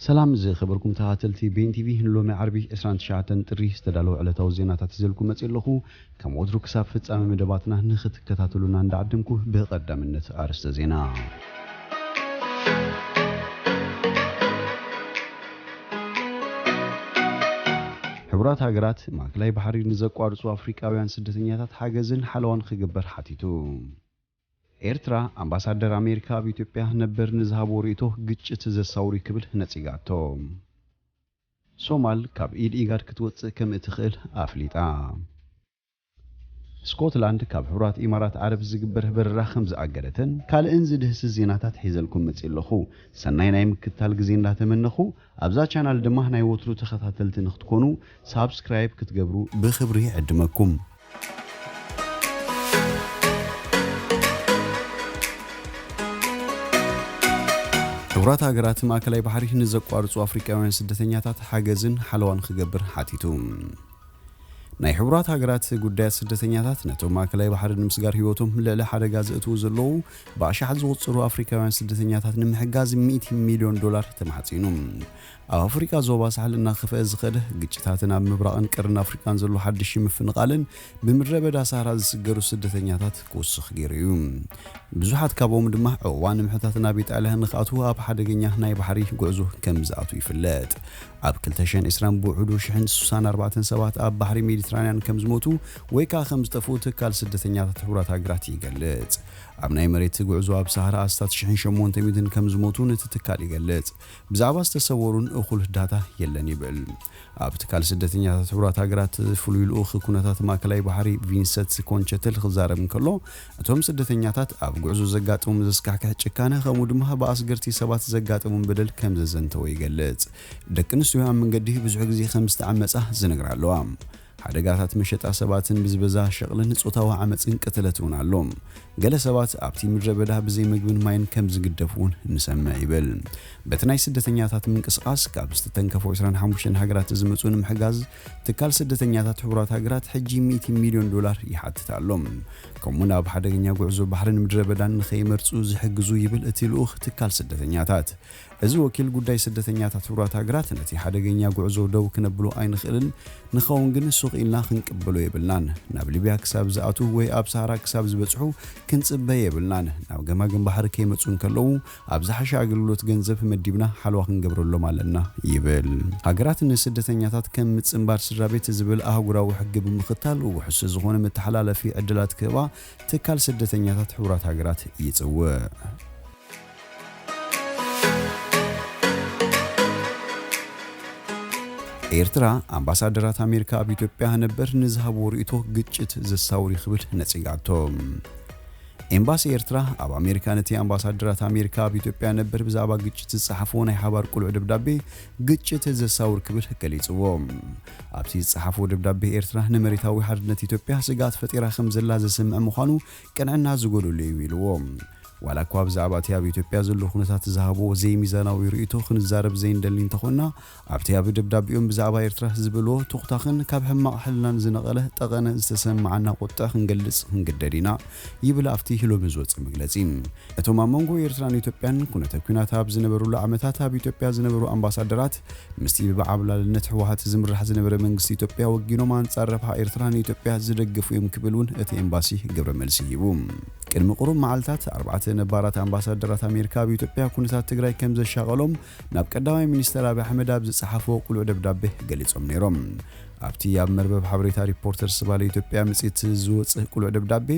ሰላም ዝኸበርኩም ተኸታተልቲ ቤን ቲቪ ንሎሚ ዓርቢ ዕስራን ትሽዓተን ጥሪ ዝተዳለወ ዕለታዊ ዜናታት ሒዘልኩም መጺእ ኣለኹ። ከም ወትሩ ክሳብ ፍጻመ መደባትና ንኽትከታተሉና እንዳዓደምኩ ብቐዳምነት ኣርእስተ ዜና። ሕቡራት ሃገራት ማእከላይ ባሕሪ ንዘቋርጹ ኣፍሪቃውያን ስደተኛታት ሓገዝን ሓለዋን ክግበር ሓቲቱ። ኤርትራ፣ ኣምባሳደር ኣሜሪካ ኣብ ኢትዮጵያ ነበር ንዝሃብዎ ርእይቶ ግጭት ዘሳውር'ዩ ክብል ነጺጋቶ። ሶማል ካብ ኢድ ኢጋድ ክትወጽእ ከምእትኽእል ኣፍሊጣ። ስኮትላንድ ካብ ሕቡራት ኢማራት ዓረብ ዝግበር በረራ ከምዝኣገደተን ካልእን ዝድህስስ ዜናታት ሒዘልኩም መጺእ ኣለኹ። ሰናይ ናይ ምክትታል ግዜ እንዳተመነኹ፣ ኣብዛ ቻናል ድማ ናይ ወትሩ ተኸታተልቲ ንክትኮኑ ሳብስክራይብ ክትገብሩ ብክብሪ ይዕድመኩም። ሕቡራት ሃገራት ማእከላይ ባሕሪ ንዘቋርጹ ኣፍሪቃውያን ስደተኛታት ሓገዝን ሓለዋን ክገብር ሓቲቱ። ናይ ሕቡራት ሃገራት ጉዳያት ስደተኛታት ነቶም ማእከላይ ባሕሪ ንምስጋር ህይወቶም ልዕሊ ሓደጋ ዘእትዉ ዘለዉ ብኣሽሓት ዝቑጽሩ ኣፍሪካውያን ስደተኛታት ንምሕጋዝ ሚእቲ ሚልዮን ዶላር ተማሕጺኑ። ኣብ ኣፍሪቃ ዞባ ሳሕል እናኸፍአ ዝኸደ ግጭታትን ኣብ ምብራቕን ቀርኒ ኣፍሪቃን ዘሎ ሓድሽ ምፍንቓልን ብምድረ በዳ ሳህራ ዝስገሩ ስደተኛታት ክውስኽ ገይሩ እዩ። ብዙሓት ካብኦም ድማ ዑቕባ ንምሕታት ናብ ኢጣልያ ንኽኣትዉ ኣብ ሓደገኛ ናይ ባሕሪ ጉዕዞ ከም ዝኣትዉ ይፍለጥ። ኣብ ክልተ ሽሕን ዕስራን ብውሕዱ ሽሕን ስሳን ኣርባዕተን ሰባት ኣብ ባሕሪ ሜዲትራንያን ከም ዝሞቱ ወይ ከኣ ከም ዝጠፍኡ ትካል ስደተኛታት ሕቡራት ሃገራት ይገልጽ። ኣብ ናይ መሬት ጉዕዞ ኣብ ሳህራ ኣስታት ሽሕን ሸሞንተ ሚእትን ከም ዝሞቱን እቲ ትካል ይገልጽ። ብዛዕባ ዝተሰወሩን እኹል ዳታ የለን ይብል። ኣብ ትካል ስደተኛታት ሕቡራት ሃገራት ፍሉይ ልኡኽ ኩነታት ማእከላይ ባሕሪ ቪንሰት ኮንቸትል ክዛረብ እንከሎ እቶም ስደተኛታት ኣብ ጉዕዞ ዘጋጥሞም ዘስካሕክሕ ጭካነ ከምኡ ድማ ብኣስገርቲ ሰባት ዘጋጠሞም በደል ከም ዘዘንተወ ይገልጽ። ደቂ ኣንስትዮ ኣብ መንገዲ ብዙሕ ግዜ ከም ዝተዓመጻ ዝነግራ ኣለዋ። ሓደጋታት መሸጣ ሰባትን ብዝበዛ ሸቕልን ጾታዊ ዓመጽን ቅትለት እውን ኣሎ። ገለ ሰባት ኣብቲ ምድረ በዳ ብዘይ መግብን ማይን ከም ዝግደፉ እውን ንሰምዕ ይብል። በቲ ናይ ስደተኛታት ምንቅስቓስ ካብ ዝተተንከፉ ዕስራን ሓሙሽተን ሃገራት ዝመጹ ንምሕጋዝ ትካል ስደተኛታት ሕቡራት ሃገራት ሕጂ ሚእቲ ሚልዮን ዶላር ይሓትት ኣሎ፣ ከምኡ'ውን ኣብ ሓደገኛ ጉዕዞ ባሕርን ምድረበዳን ንኸይመርጹ ዝሕግዙ ይብል እቲ ልኡኽ ትካል ስደተኛታት። እዚ ወኪል ጉዳይ ስደተኛታት ሕቡራት ሃገራት ነቲ ሓደገኛ ጉዕዞ ደው ክነብሎ ኣይንኽእልን፣ ንኸውን ግን ሱቕ ኢልና ክንቅበሎ የብልናን። ናብ ሊብያ ክሳብ ዝኣትው ወይ ኣብ ሰሃራ ክሳብ ዝበጽሑ ክንጽበ የብልናን፣ ናብ ገማግም ባሕሪ ከይመጹ እንከለዉ ኣብ ዝሓሸ ኣገልግሎት ገንዘብ መዲብና ሓለዋ ክንገብረሎም ኣለና ይብል። ሃገራት ንስደተኛታት ከም ምጽንባር ስድራቤት ዝብል ኣህጉራዊ ሕጊ ብምኽታል ውሑስ ዝኾነ መተሓላለፊ ዕድላት ክህባ ትካል ስደተኛታት ሕቡራት ሃገራት ይጽውዕ። ኤርትራ፣ ኣምባሳደራት ኣሜሪካ ኣብ ኢትዮጵያ ነበር ንዝሃብዎ ርእይቶ ግጭት ዘሳውር'ዩ ክብል ነጺጋቶ። ኤምባሲ ኤርትራ ኣብ ኣሜሪካ ነቲ ኣምባሳደራት ኣሜሪካ ኣብ ኢትዮጵያ ነበር ብዛዕባ ግጭት ዝጸሓፍዎ ናይ ሓባር ቅሉዕ ደብዳቤ ግጭት ዘሳውር ክብል ገሊጽዎ። ኣብቲ ዝጸሓፍዎ ደብዳቤ ኤርትራ ንመሬታዊ ሓድነት ኢትዮጵያ ስግኣት ፈጢራ ከምዘላ ዘስምዕ ምዃኑ ቅንዕና ዝጎደሎ እዩ ኢልዎ። ዋላኳ ብዛዕባ እቲ ኣብ ኢትዮጵያ ዘሎ ኩነታት ዝሃብዎ ዘይሚዛናዊ ርእይቶ ክንዛረብ ዘይንደሊ እንተኾንና ኣብቲ ኣብ ደብዳቤኦም ብዛዕባ ኤርትራ ዝበልዎ ቶኽታኽን ካብ ሕማቕ ሕልናን ዝነቐለ ጠቐነ ዝተሰመዓና ቁጥዐ ክንገልጽ ክንግደድ ኢና ይብል ኣብቲ ሎሚ ዝወጸ መግለጺ። እቶም ኣብ መንጎ ኤርትራን ኢትዮጵያን ኩነተ ኲናት ኣብ ዝነበሩሉ ዓመታት ኣብ ኢትዮጵያ ዝነበሩ ኣምባሳደራት ምስቲ ብብዓብላልነት ህወሓት ዝምራሕ ዝነበረ መንግስቲ ኢትዮጵያ ወጊኖም ኣንጻር ረብሓ ኤርትራ ንኢትዮጵያ ዝደገፉ እዮም ክብል ውን እቲ ኤምባሲ ግብረ መልሲ ሂቡ። ቅድሚ ቁሩብ መዓልታት ኣርባዕተ ነባራት ኣምባሳደራት ኣሜሪካ ኣብ ኢትዮጵያ ኩነታት ትግራይ ከምዘሻቐሎም ናብ ቀዳማይ ሚኒስተር ኣብይ ኣሕመድ ኣብ ዝጸሓፍዎ ቅሉዕ ደብዳበ ገሊጾም ነይሮም። ኣብቲ ኣብ መርበብ ሓበሬታ ሪፖርተር ዝባለ ኢትዮጵያ መጽሔት ዝወጽእ ቅሉዕ ደብዳቤ፣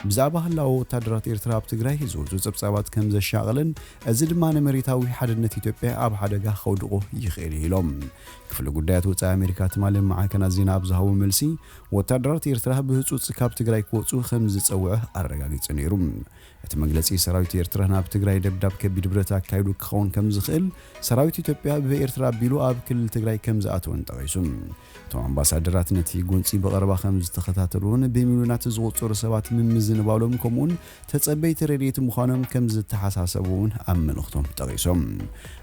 ብዛዕባ ህላወ ወታደራት ኤርትራ ኣብ ትግራይ ዝወጹ ጸብጻባት ከም ዘሻቕልን፣ እዚ ድማ ንመሬታዊ ሓድነት ኢትዮጵያ ኣብ ሓደጋ ከውድቖ ይኽእል እዩ ኢሎም። ክፍሊ ጉዳያት ወጻኢ ኣሜሪካ ትማሊ ኣብ ማዕከናት ዜና ኣብ ዝሃቦ መልሲ፣ ወታደራት ኤርትራ ብህጹጽ ካብ ትግራይ ክወጹ ከም ዝጸውዐ ኣረጋጊጹ ነይሩ። እቲ መግለጺ ሰራዊት ኤርትራ ናብ ትግራይ ደብዳብ ከቢድ ብረት ኣካይዱ ክኸውን ከም ዝኽእል፣ ሰራዊት ኢትዮጵያ ብኤርትራ ኣቢሉ ኣብ ክልል ትግራይ ከም ዝኣተወን ጠቒሱ። እቶም ኣምባሳደራት ነቲ ጎንጺ ብቐረባ ከም ዝተኸታተሉዎን ብሚልዮናት ዝቑጸሩ ሰባት ምምዝንባሎም ከምኡ'ውን ተጸበይቲ ረድኤት ምዃኖም ከም ዝተሓሳሰቡ'ውን ኣብ መልእኽቶም ጠቒሶም።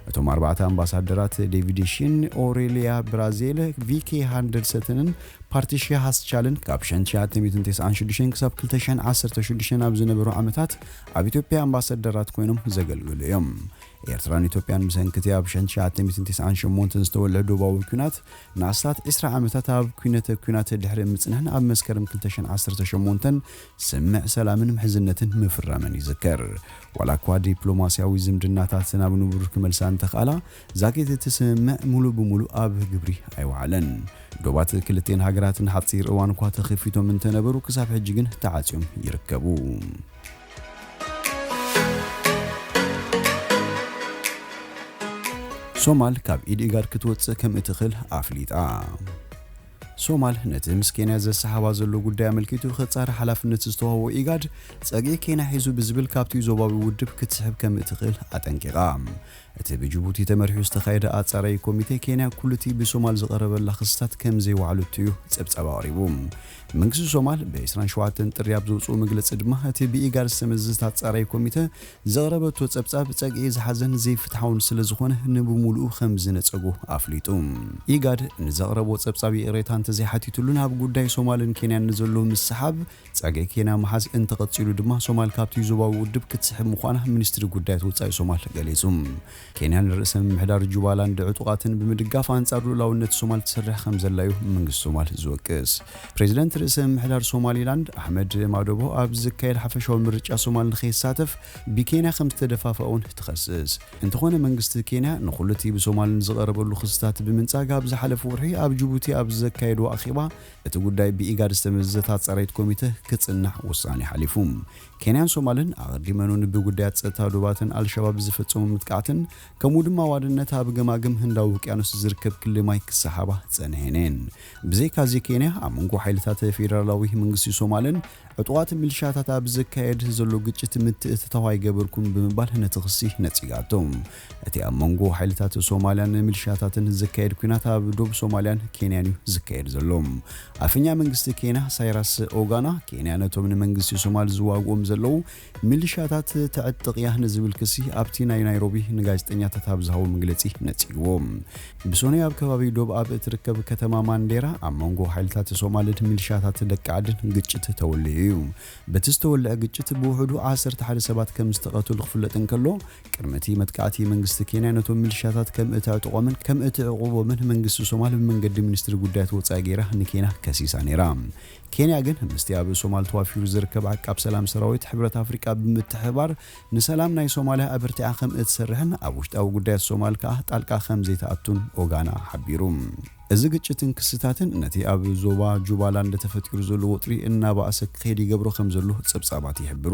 እቶም ኣርባዕተ ኣምባሳደራት ዴቪድ ሺን፣ ኦሬልያ ብራዜል፣ ቪኬ ሃንደርሰትንን ፓርቲ ሼህ ኣስቻልን ካብ ሸን ትሽዓተ ሚእትን ተስዓን ሽዱሽተን ክሳብ ክልተ ሽሕን ዓሰርተ ሽዱሽተን ኣብ ዝነበሩ ዓመታት ኣብ ኢትዮጵያ ኣምባሰደራት ኮይኖም ዘገልገሉ እዮም። ኤርትራን ኢትዮጵያን ብሰንኪ እቲ ኣብ ሸን ትሽዓተ ሚእትን ተስዓን ሸሞንተን ዝተወልዐ ዶባዊ ኲናት ንኣስታት ዕስራ ዓመታት ኣብ ኲነተ ኲናት ድሕሪ ምጽንሐን ኣብ መስከረም ክልተ ሽሕን ዓሰርተ ሸሞንተን ስምምዕ ሰላምን ምሕዝነትን ምፍራመን ይዝከር። ዋላኳ ዲፕሎማስያዊ ዝምድናታተን ኣብ ንቡር ክመልሳ እንተኽኣላ፣ ዛጊት እቲ ስምምዕ ምሉእ ብምሉእ ኣብ ግብሪ ኣይወዓለን። ዶባት ክልቲኤን ሃገራት ንሓጺር እዋን እኳ ተኺፊቶም እንተነበሩ ክሳብ ሕጂ ግን ተዓጽዮም ይርከቡ። ሶማል ካብ ኢድ ኢጋድ ክትወጽእ ከምእትኽል ኣፍሊጣ። ሶማል ነቲ ምስ ኬንያ ዘሰሓባ ዘሎ ጉዳይ ኣመልኪቱ ክጻረ ሓላፍነት ዝተዋህቦ ኢጋድ ጸግዒ ኬንያ ሒዙ ብዝብል ካብቲ ዞባዊ ውድብ ክትስሕብ ከምእትኽእል ኣጠንቂቓ። እቲ ብጅቡቲ ተመሪሑ ዝተኻየደ ኣጻራዪ ኮሚቴ፣ ኬንያ ኩሉ'ቲ ብሶማል ዝቐረበላ ክስታት ከም ዘይወዓለቶ'ዩ ጸብጻብ ኣቕሪቡ። መንግስቲ ሶማል ብ ዕስራን ሸውዓተን ጥሪ ኣብ ዘውጽኦ መግለጺ ድማ፣ እቲ ብኢጋድ ዝተመዘዘት ኣጻራዪ ኮሚተ ዘቕረበቶ ጸብጻብ ጸግዒ ዝሓዘን ዘይፍትሓውን ስለ ዝኾነ ንብምሉኡ ከም ዝነጸጎ ኣፍሊጡ። ኢጋድ ንዘቕረቦ ጸብጻብ ይቕሬታ እንተዘይሓቲትሉን ኣብ ጉዳይ ሶማልን ኬንያን ንዘሎ ምስሕሓብ ጸገይ ኬንያ ምሓዝ እንተቐጺሉ ድማ ሶማል ካብቲ ዞባዊ ውድብ ክትስሕብ ምዃና ሚኒስትሪ ጉዳያት ወጻኢ ሶማል ገሊጹ። ኬንያ ንርእሰ ምምሕዳር ጁባላንድ ዕጡቓትን ብምድጋፍ ኣንጻር ልኡላውነት ሶማል ትሰርሕ ከምዘላ'ዩ መንግስቲ ሶማል ዝወቅስ። ፕሬዝደንት ርእሰ ምምሕዳር ሶማሊላንድ ኣሕመድ ማዶቦ ኣብ ዝካየድ ሓፈሻዊ ምርጫ ሶማል ንከይሳተፍ ብኬንያ ከምዝተደፋፍኣ'ውን ትኸስስ። እንተኾነ መንግስቲ ኬንያ ንኹሉ'ቲ ብሶማል ንዝቐረበሉ ክስታት ብምንጻግ ኣብ ዝሓለፈ ወርሒ ኣብ ጁቡቲ ኣብ ዘካየዶ ኣኼባ እቲ ጉዳይ ብኢጋድ ዝተመዘዘታት ጸረይት ኮሚተ ክጽናሕ ውሳኔ ሓሊፉ። ኬንያን ሶማልን ኣቐዲመኑን ብጉዳያት ጸጥታ ዶባተን ኣልሸባብ ዝፈጸሙ ምጥቃዕትን ከምኡ ድማ ዋንነታ ኣብ ገማግም ህንዳዊ ውቅያኖስ ዝርከብ ክሊ ማይ ክሰሓባ ጸንሔን'የን። ብዘይካዚ ኬንያ ኣብ መንጎ ሓይልታት ፌደራላዊ መንግስቲ ሶማልን ዕጡቓት ሚልሻታት ኣብ ዝካየድ ዘሎ ግጭት ምትእትታው ኣይገበርኩን ብምባል ነቲ ክሲ ነጺጋቶ። እቲ ኣብ መንጎ ሓይልታት ሶማልያን ሚልሻታትን ዝካየድ ኲናት ኣብ ዶብ ሶማልያን ኬንያን'ዩ ዝካየድ ዘሎ። ኣፈኛ መንግስቲ ኬንያ ሳይራስ ኦጋና፣ ኬንያ ነቶም ንመንግስቲ ሶማል ዝዋግኡም ዘለዉ ሚልሻታት ተዕጥቕ'ያ ንዝብል ክሲ ኣብቲ ናይ ናይሮቢ ንጋዜጠኛታት ኣብ ዝሃቦ መግለጺ ነጺግዎ። ብሰኑይ ኣብ ከባቢ ዶብ ኣብ እትርከብ ከተማ ማንዴራ ኣብ መንጎ ሓይልታት ሶማልን ሚልሻታት ደቂ ዓድን ግጭት ተወሊዑ'ዩ። በቲ ዝተወልዐ ግጭት ብውሕዱ ዓሰርተ ሓደ ሰባት ከምዝተቐትሉ ክፍለጥ እንከሎ፣ ቅድሚ እቲ መጥቃዕቲ፣ መንግስቲ ኬንያ ነቶም ሚልሻታት ከም እተዕጥቖምን ከም እትዕቝቦምን መንግስቲ ሶማል ብመንገዲ ሚኒስትሪ ጉዳያት ወጻኢ ገይራ ንኬንያ ከሲሳ ነይራ። ኬንያ ግን ምስቲ ኣብ ሶማል ተዋፊሩ ዝርከብ ዓቃብ ሰላም ሰራዊት ሕብረት ኣፍሪቃ ብምትሕብባር ንሰላም ናይ ሶማልያ ኣበርቲዓ ከም እትሰርሕን ኣብ ውሽጣዊ ጉዳያት ሶማል ከኣ ጣልቃ ከም ዘይትኣቱን ኦጋና ሓቢሩ። እዚ ግጭትን ክስታትን ነቲ ኣብ ዞባ ጁባላንድ ተፈጢሩ ዘሎ ወጥሪ እናበኣሰ ክኸይድ ይገብሮ ከም ዘሎ ጸብጻባት ይሕብሩ።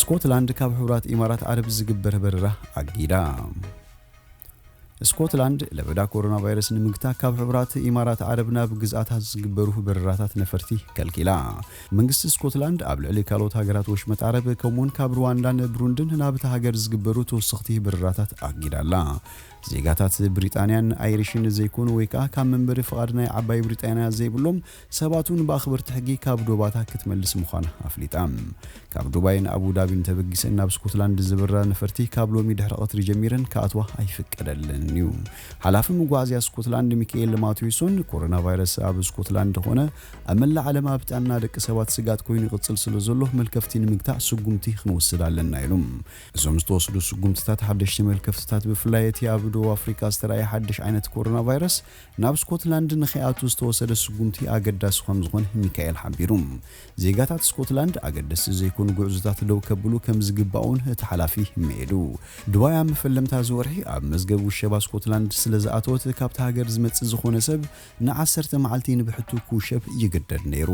ስኮትላንድ ካብ ሕቡራት ኢማራት ዓረብ ዝግበር በረራ ኣጊዳ። ስኮትላንድ ለበዳ ኮሮና ቫይረስ ንምግታ ካብ ሕቡራት ኢማራት ዓረብ ናብ ግዝኣታ ዝግበሩ በረራታት ነፈርቲ ከልኪላ። መንግስቲ ስኮትላንድ ኣብ ልዕሊ ካልኦት ሃገራት ወሽመጥ ዓረብ ከምኡውን ካብ ሩዋንዳን ብሩንድን ናብታ ሃገር ዝግበሩ ተወሰኽቲ በረራታት ኣጊዳላ። ዜጋታት ብሪጣንያን ኣይሪሽን ዘይኮኑ ወይ ከኣ ካብ መንበሪ ፍቓድ ናይ ዓባይ ብሪጣንያ ዘይብሎም ሰባት ውን ብኣኽበርቲ ሕጊ ካብ ዶባታ ክትመልስ ምዃና ኣፍሊጣ። ካብ ዱባይን ኣቡ ዳቢን ተበጊሰን ናብ ስኮትላንድ ዝብረራ ነፈርቲ ካብ ሎሚ ድሕሪ ቐትሪ ጀሚረን ክኣትዋ ኣይፍቀደለንን እዩ። ሓላፊ መጓዓዝያ ስኮትላንድ ሚኪኤል ማትዌሶን ኮሮናቫይረስ ኣብ ስኮትላንድ ኾነ ኣብ መላእ ዓለም ኣብ ጥዕና ደቂ ሰባት ስግኣት ኮይኑ ይቕጽል ስለዘሎ መልከፍቲ ንምግታእ ስጉምቲ ኽንወስድ ኣለና ኢሉ። እዞም ዝተወስዱ ስጉምትታት ሓደሽቲ መልከፍትታት ብፍላይ እቲ ኣብ ደቡብ ኣፍሪቃ ዝተራእየ ሓድሽ ዓይነት ኮሮናቫይረስ ናብ ስኮትላንድ ንከይኣቱ ዝተወሰደ ስጉምቲ ኣገዳሲ ከምዝኾነ ሚካኤል ሓቢሩ። ዜጋታት ስኮትላንድ ኣገደስቲ ዘይኮኑ ጉዕዞታት ደው ከብሉ ከምዝግባእ'ውን እቲ ሓላፊ ምዒዱ። ዱባይ ኣብ መፈለምታ እዚ ወርሒ ኣብ መዝገብ ውሸባ ስኮትላንድ ስለዝኣተወት ካብታ ሃገር ዝመጽእ ዝኾነ ሰብ ንዓሰርተ መዓልቲ ንብሕቱ ክውሸብ ይግደድ ነይሩ።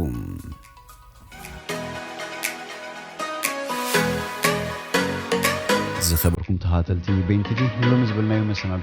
ዝኸበርኩም ተኸታተልቲ በይን ቲቪ ንሎሚ ዝበልናዮ መሰናዶ